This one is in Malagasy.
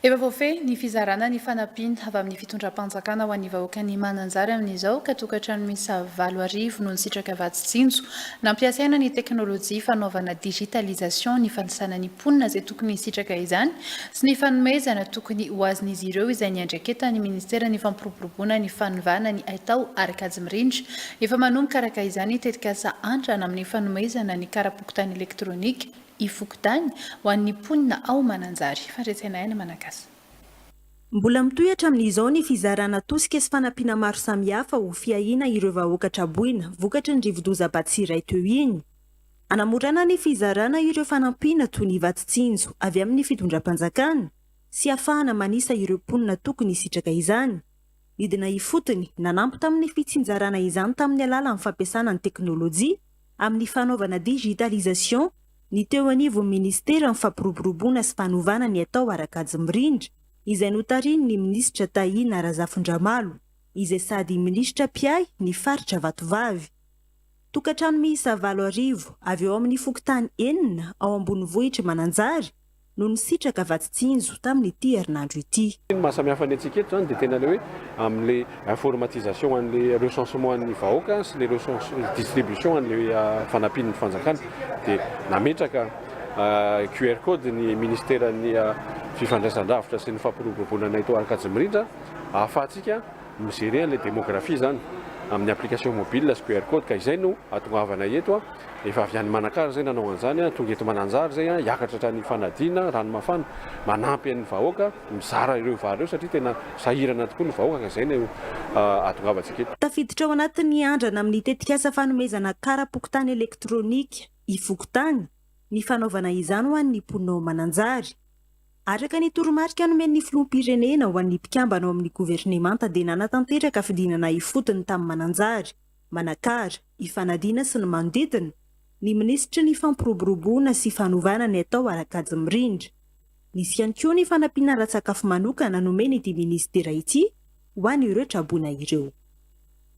Efa voafehy ny fizarana ny fanampiana avy amin'ny fitondram-panjakana ho an'ny vahoakan'i Mananjary amin'izao ka tokantrano miisa valo arivo no nisitraka vatsy tsinjo nampiasaina ny teknolojia fanaovana digitalisation ny fanisana ny mponina izay tokony hisitraka izany sy ny fanomezana tokony ho azin'izy ireo izay niandraiketan'ny ministeran'ny fampiroboroboana ny fanovana ny haitao ary kajy mirindra efa manomboka araka izany tetikasa andrana amin'ny fanomezana ny karapokontany elektronika Ifokontany ho an'ny mponina ao Mananjary. Fandresena aina Manakasa. Mbola mitohy hatramin'izao ny fizarana tosika sy fanampiana maro samihafa ho fiahiana ireo vahoaka traboina vokatry ny rivodoza Batsirai teo iny. Anamorana ny fizarana ireo fanampiana toy ny vatsy tsinjo avy amin'ny fitondram-panjakana sy hafahana manisa ireo mponina tokony hisitraka izany. Nidina ifotony, nanampy tamin'ny fitsinjarana izany tamin'ny alalan'ny fampiasana ny teknolojia amin'ny fanaovana digitalisation ny teo anivon'ny ministeran'ny Fampiroboroboana sy fanovana ny atao ara-kajy mirindra izay notarihin'ny minisitra Tahina Razafindramalo izay sady minisitra mpiahy ny faritra Vatovavy. Tokantrano miisa valo arivo avy ao amin'ny fokontany enina ao ambonivohitr'i Mananjary no nisitraka vatsy tsinjo tamin'ity herinandro ity. Ny mahasamihafa ny antsika eto izany dia tena ilay hoe amin'ilay informatisation an'ilay recensement an'ny vahoaka sy ilay distribution an'ilay fanampian'ny fanjakana dia nametraka QR code ny ministeran'ny fifandraisan-dravitra sy ny fampiroboroboana eto Ankadimirindrana ahafahantsika mi-gerer an'ilay démographie izany amin'ny application mobile sy QR code ka izay no ahatongavana eto a, efa avy any Manakara izay nanao an'izany a, tonga eto Mananjary izay a, hiakatra hatrany Fanadina, Ranomafana, manampy an'ny vahoaka mizara ireo vary ireo satria tena sahirana tokoa ny vahoaka ka izay no ahatongavantsika eto. Tafiditra ao anatin'ny andrana amin'ny tetikasa fanomezana kara-pokontany elektronika ifokontany ny fanaovana izany ho an'ny mponina ao Mananjary. Araka ny toromarika nomen'ny filoham-pirenena ho an'ny mpikambana ao amin'ny governemanta dia nanatanteraka fidinana ifotony tamin'ny Mananjary, Manakara, Ifanadiana sy ny manodidina ny minisitry ny Fampiroboroboana sy fanovana ny atao ara-kajy mirindra. Nisy ihany koa ny fanampiana ara-tsakafo manokana nomen'ity minisitera ity ho an'ireo traboina ireo.